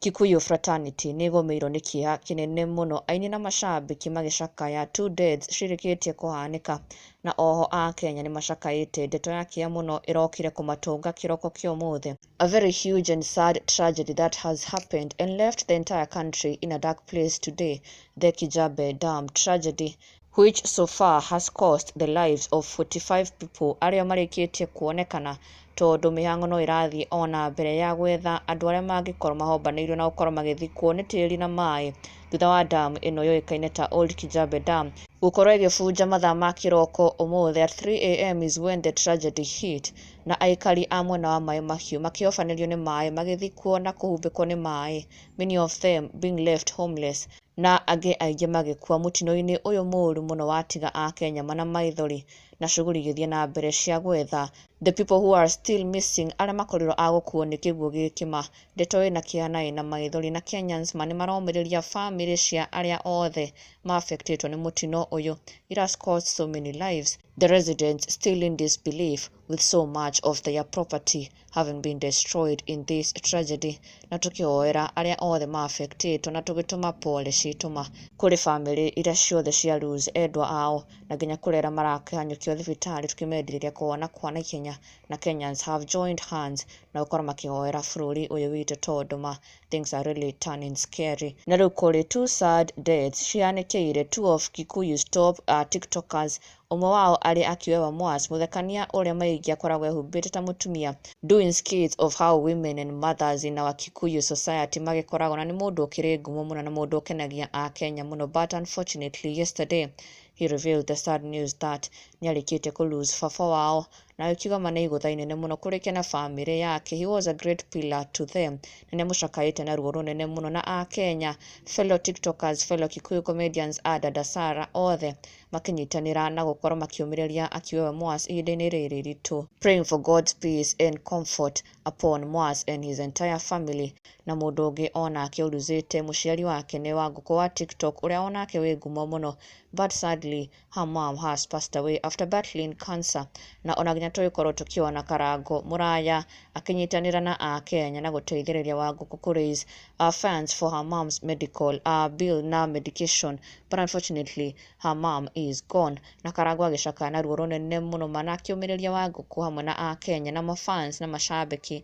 Kikuyu Fraternity nĩ ĩgũmĩirwo nĩ kĩeha kĩnene mũno aini na macambĩki magĩcakaya two deaths cirĩkĩtie kũhanĩka na oho Akenya nĩ macakaĩte ndeto ya kĩeha mũno ĩrokire kũmatũnga kĩroko kĩa ũmũthĩ. a very huge and sad tragedy that has happened and left the entire country in a dark place today, the Kijabe Dam tragedy, which so far has cost the lives of 45 people arĩa marĩkĩtie kuonekana tondũ mĩhang'o no ĩrathiĩ o na mbere ya gwetha andũ arĩa mangĩkorwo mahombanĩirio na gũkorwo magĩthikwo nĩ tĩri na maĩ thutha wa dam ĩno yũĩkaine ta Old Kijabe Dam gũkorwo ĩgĩbunja mathaa ma kĩroko ũmũthĩ at 3am is when the tragedy hit Na aikari a mwena wa maaĩ mahiũ makĩhobanĩrio nĩ maaĩ, magĩthikwo na kũhumbĩkwo nĩ maaĩ, many of them being left homeless, na angĩ aingĩ magĩkua mũtino-inĩ ũyũ mũũru mũno watiga Akenya mana maithori, na cuguri igĩthiĩ na mbere cia gwetha the people who are still missing, arĩa makorirwo a gũkuo nĩ kĩguũ gĩkĩ ma. Ndeto ĩna kĩeha na ĩna maithori, na Kenyans ma nĩ maromĩrĩria famĩlĩ cia arĩa othe ma affectĩtwo nĩ mũtino ũyũ. It has cost so many lives. The residents still in disbelief with so much of their property having been destroyed in this tragedy na tũkĩhoera arĩa othe maafectĩtwo na tũgĩtũma pole citũma kũrĩ famĩlĩ iria ciothe cia lose endwa ao na nginya kũrĩ arĩa marakĩhanyũkio thibitarĩ tũkĩmendirĩria kũhona kwa naihenya na Kenyans have joined hands na gũkorwo makĩhoera bũrũri ũyũ witũ tondũ ma things are really turning scary na rĩu kũrĩ two sad deaths cihanĩkĩire two of Kikuyu's top uh, tiktokers ũmwe wao arĩ Akiwewa Mwas mũthekania ũrĩa maingĩ akoragwo ehumbĩte ta mũtumia doing skits of how women and mothers in our Kikuyu society magĩkoragwo na nĩ mũndũ ũkĩrĩ ngumo mũno na mũndũ ũkenagia a Kenya mũno but unfortunately yesterday he revealed the sad news that nĩarĩkĩte kũ lose baba wao na akiuga ma nĩ igũtha inene mũno kũrĩke na bamĩrĩ yake he was a great pillar to them na nĩ amũcakaĩte na ruo rũnene mũno na akenya fellow tiktokers fellow kikuyu comedians a dada Sarah othe makĩnyitanĩra na gũkorwo makĩũmĩrĩria akiuga we Moas ihinda-inĩ rĩrĩ rĩritũ praying for God's peace and comfort upon Moas and his entire family na mũndũ ũngĩ onake ũruzĩte mũciari wake nĩ Wangũkũ wa tiktok ũrĩa onake wĩ ngumo mũno but sadly Hammam has passed away after battling cancer na ona nginya tũgĩkorwo tũkĩona Karangũ mũraya akĩnyitanĩra na Akenya na gũteithĩrĩria Wangũkũ kũ raise uh, funds for her mom's medical uh, bill na medication but unfortunately her mom is gone na Karangũ agĩcakaya na ruo rũnene mũno mana akĩũmĩrĩria Wangũkũ hamwe na Akenya na mafans na macambĩki